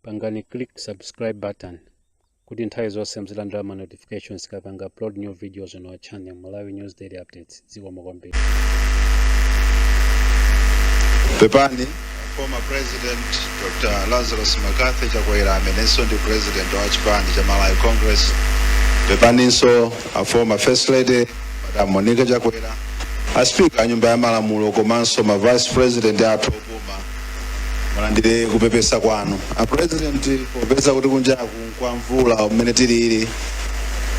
pangani click subscribe button kuti nthawi zonse muzilandira ma notifications tikapanga upload new videos on our channel malawi news daily updates zikomo kwambiri pepani former president dr lazarus mccarthy chakwera amenenso ndi president wa chipani cha malawi congress pepaninso a former first lady madam monica chakwera a speaker a nyumba ya malamulo komanso ma vice president athu opuma mulandire kupepesa kwathu a president popeza kuti kunjaku kwa mvula umene tilili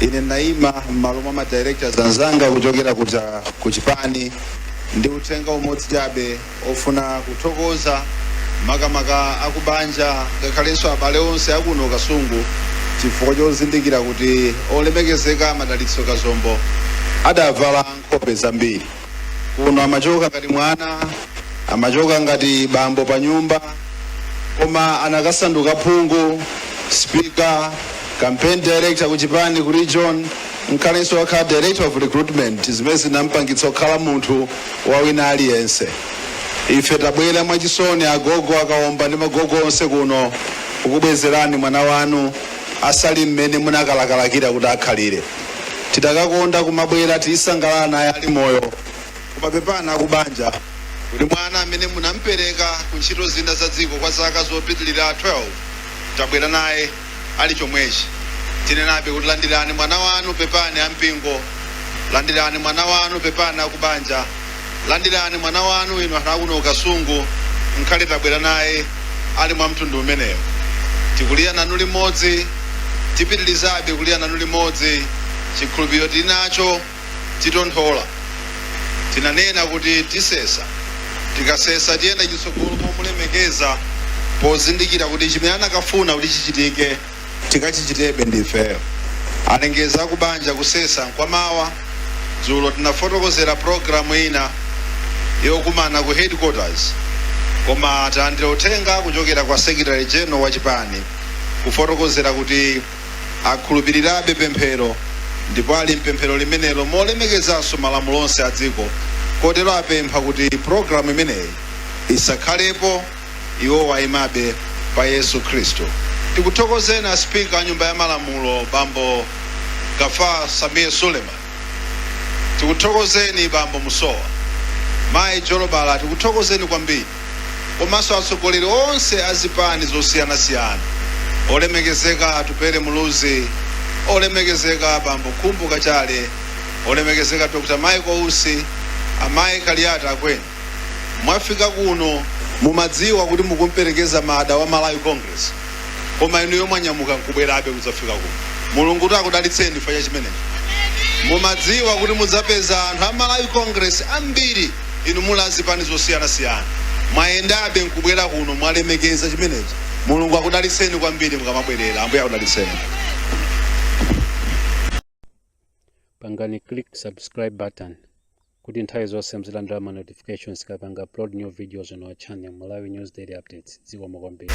ine ndayima m'malo mwa ma directors anzanga kuchokera kuja ku chipani ndi uthenga umodzi chabe ofuna kuthokoza makamaka akubanja ngakhalenso abale onse akuno kasungu chifukwa chozindikira kuti olemekezeka madalitso kazombo adavala nkhope zambiri kuno amachoka ngati mwana amachoka ngati bambo pa nyumba koma anakasanduka phungu speaker campaign director ku chipani ku region ngakhalenso wakhala director of recruitment zimene zinampangitsa kukhala munthu wa wina aliyense ife tabwera mwachisoni agogo a Kaomba ndi magogo onse kuno kukubwezerani mwana wanu asali mmene munakalakalakira kuti akhalire tikadakonda kumabwera tizisangalala naye ali moyo koma pepani akubanja kuti mwana amene munampereka ku ntchito zina za dziko kwa zaka zopitirira 12 tabwera naye ali chomwechi tinenabe kuti landirani mwana wanu pepani ampingo landirani mwana wanu pepani akubanja Landirani mwana wanu inu anthu akuno ku Kasungu, ngakhale tabwera naye ali mwa mtundu umenewo. Tikulira nanu limodzi, tipitilizabe kulira nanu limodzi, chikhulupiriro tili nacho titonthola. Tinanena kuti tisesa, tikasesa tiyenda chitsogolo momulemekeza pozindikira kuti chimene anakafuna kuti chichitike tikachichitebe ndifeyo alengeza akubanja kusesa nkwamawa dzulo tinafotokozera programu ina yokumana ku headquarters koma talandira uthenga kuchokera kwa secretary general wa chipani kufotokozera kuti akhulupirirabe pemphero ndipo ali mpemphero limenelo molemekezanso malamulo onse a dziko kotero apempha kuti programu imeneyi isakhalepo Iwowa aimabe pa Yesu Khristu. Tikuthokozeni a Speaker a nyumba ya malamulo bambo Gaffar Sameer Suleman. Tikuthokozeni bambo Musowa, mayi Jolobala tikuthokozeni kwambiri komanso atsogoleri onse a zipani zosiyana siyana. Olemekezeka Atupele Muluzi, olemekezeka bambo Khumbo Kachali, olemekezeka Dr. Michael Usi, amayi Kaliati Akweni. mwafika kuno mumadziwa kuti mukumperekeza mdala wa malawi congress koma inuyo mwanyamuka nkubwerabe kudzafika kuno mulungu kuti akudalitseni chifukwa cha chimenechi mumadziwa kuti mudzapeza anthu a malawi congress ambiri inu muli azipani zosiyanasiyana mwayendabe nkubwera kuno mwalemekeza chimenechi mulungu akudalitseni kwambiri mukamabwerera ambuye akudalitseni pangani click subscribe button kuti nthawi zonse mzilandira ma notifications tikapanga upload new videos on our channel Malawi News Daily Updates. Zikomo kwambiri.